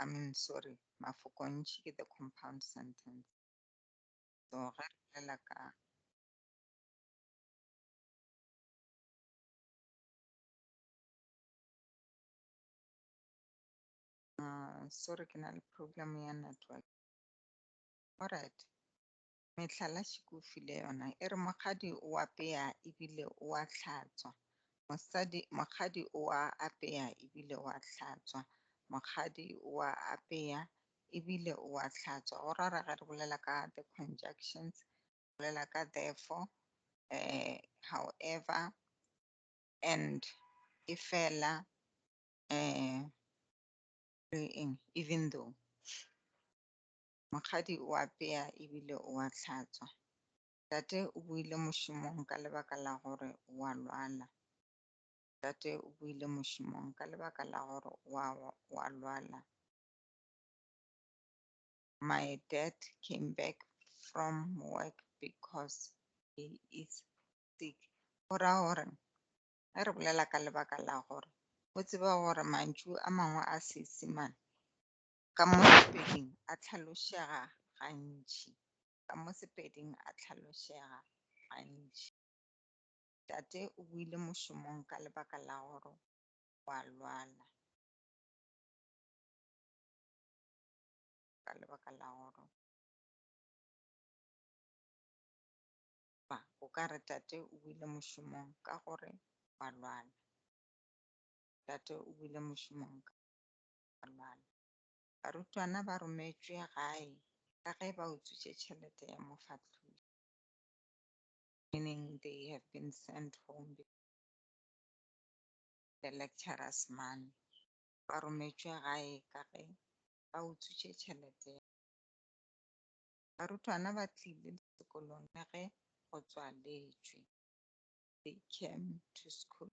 I mean sorry mafokontši ke the compound sentence. So ge re bolela ka Uh, sorry ke na le problem ya network. Alright. Mehlala Shikufi le yona e re mokgadi o apea ebile o a hlatswa, mosadi, mokgadi o a apea ebile o a hlatswa, mokgadi o a apea ebile o a hlatswa. Go ra re ga re bolela ka the conjunctions, re bolela ka therefore, um however, and, efela, um le eng, even though. Mokgadi o apea e bile o a hlatswa. Tate o boile mošomong ka lebaka la gore o a lwala. Tate o boile mošomong ka lebaka la gore o a, o a lwala. My dad came back from work because he is sick. Go ra gore ge re bolela ka lebaka la gore, o tseba gore mantšu a mangwe a Seesimane Ka mo Sepeding a hlalošega gantši. Ka mo Sepeding a hlalošega gantši. Tate o boile mošomong ka lebaka la gore wa lwala. Ka lebaka la gore ba o ka re tate o boile mošomong ka gore wa lwala. Tate o boile mošomong ka Mangwalo. Barutwana ba rometšwe gae ka ge ba utswitše tšhelete ya mofahloši, meaning they have been sent home the lecturer's money. Ba rometšwe gae ka ge ba utswitše tšhelete ya. Barutwana ba tlile sekolong le ge go tswaletšwe. They came to school.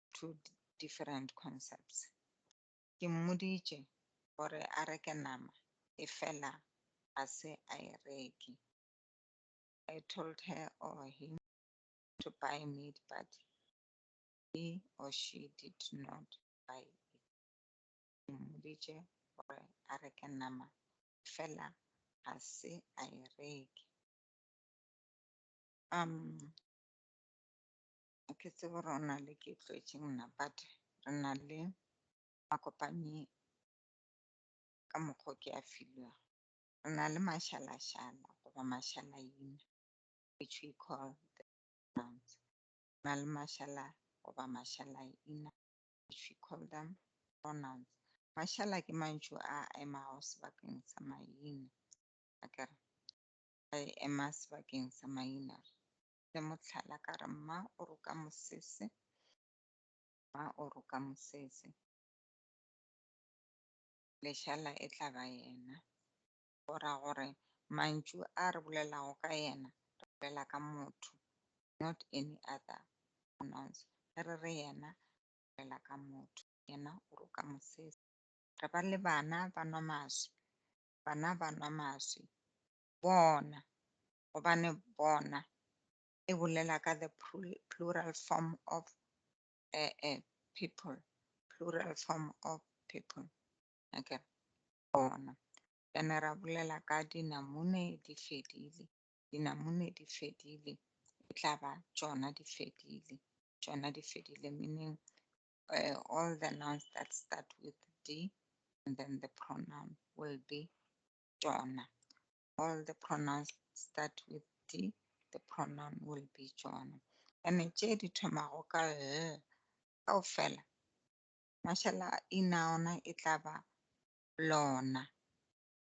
two different concepts. Ke mmoditše gore a reke nama efela ga se a e reke. I told her or oh, him to buy meat but he or she did not buy it. Ke mmoditše gore a reke nama efela ga se a e reke. Um, Ke tsebe gore o na le ke tlwetše mna but re na le makopanyi ka mokgwa ke a filwego. Re na le mašalašala goba mašalaina which we call the nouns. Re na le mašala goba mašalaina which we call them pronouns. Mašala ke mantšu a emago sebakeng sa maina. Akere a ema sebakeng sa maina. le mohlala ka re mma o roka mosese mma o roka mosese lešala e tla ba yena go ra gore mantšu a re bolelago ka yena re bolela ka motho not any other pronouns ge re re yena bolela ka motho yena o roka mosese re ba le bana ba nwa maswi bana ba nwa maswi bona gobane bona e bolela ka the plural form of uh, uh, people plural form of people okay bona ene ra bolela ka dinamune di fedile dinamune di fedile e tla ba tšona di fedile tšona di fedile meaning uh, all the nouns that start with d and then the pronoun will be tšona all the pronouns start with d the pronoun will be tsona ene tše di thomago ka l kao fela mašala ina ona e tla ba lona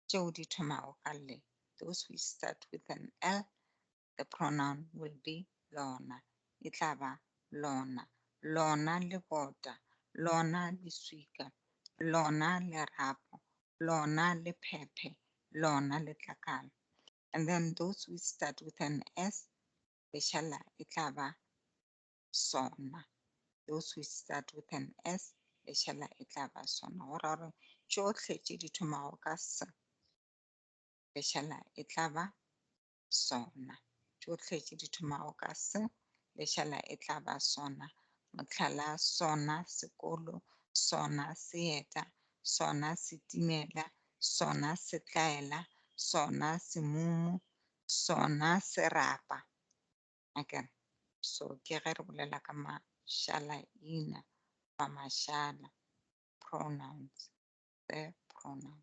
tšeo di thomago ka le those which start with an l the pronoun will be lona e tla ba lona lona lebota lona leswika lona lerapo lona lephephe lona letlakala and then those which start with an s leshala e tla ba sona those which start with an s leshala e tla ba sona go ra gore tšohle tše di thomago ka s leshala e tla ba sona. Tšohle tše di thomago ka se, lešala e tla ba sona, mohlala, sona sekolo, sona seeta, sona setimela, sona setlaela, sona semumu, sona serapa. Okay. So ke ge re bolela ka mašala ina ba mašala pronouns the pronoun.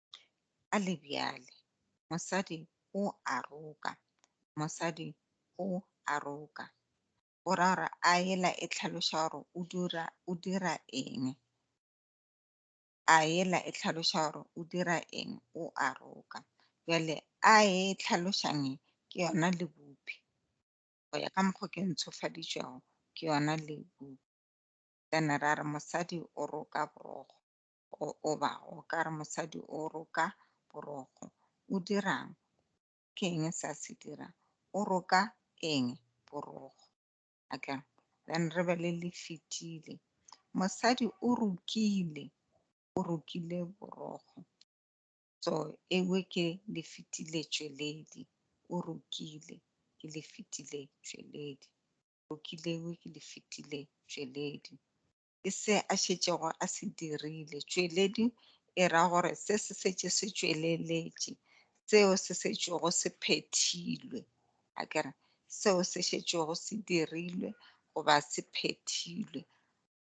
Ka le bjale mosadi o a roka, mosadi o a roka. O ra gore a ela e tlhaloša gore o dira o dira eng. A ela e tlhaloša gore o dira eng o a roka. Bjale a e tlhalošang e ke yona le bophi. Go ya ka mokgo ke ntshofaditšwego ke yona le bophi. Then ra re mosadi o roka borokgo. Goba o ka re mosadi o roka borokgo. O dirang? Ke eng se a se dirang? O roka eng? Borokgo. Okay. Then re be le le fetile. Mosadi o rokile. O rokile borokgo. So ewe ke le fetile tšweledi. O rokile ke le fetile tšweledi. Rokile ewe ke le fetile tšweledi. ke se a šetšego a se dirile. Tšweledi e ra gore se se šetše se tšweleletše, seo se šetšego se phethilwe. A ke re, seo se šetšego se dirilwe goba se phethilwe.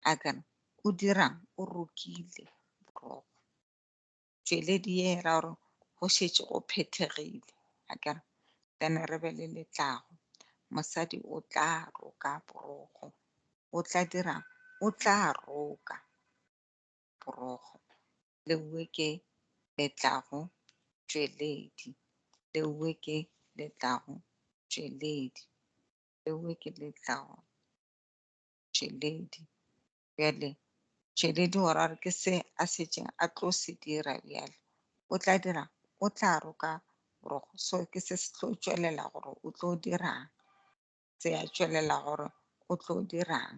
A ke re, o dirang? O rokile boroko. tšweledi ye e ra gore go šetše go phethegile a kere then re be le letlago mosadi o tla roka borogo o tla dira o tla roka borogo le uwe ke letlago tšweledi le uwe ke letlago tšweledi le uwe ke letlago tšweledi Bjale Tšweledi o ra gore ke se a setseng a tlo se dira bjale. O tla dira, o tla roka borogo. So ke se se tlo tšwelela gore o tlo dirang. Se a tšwelela gore o tlo dirang.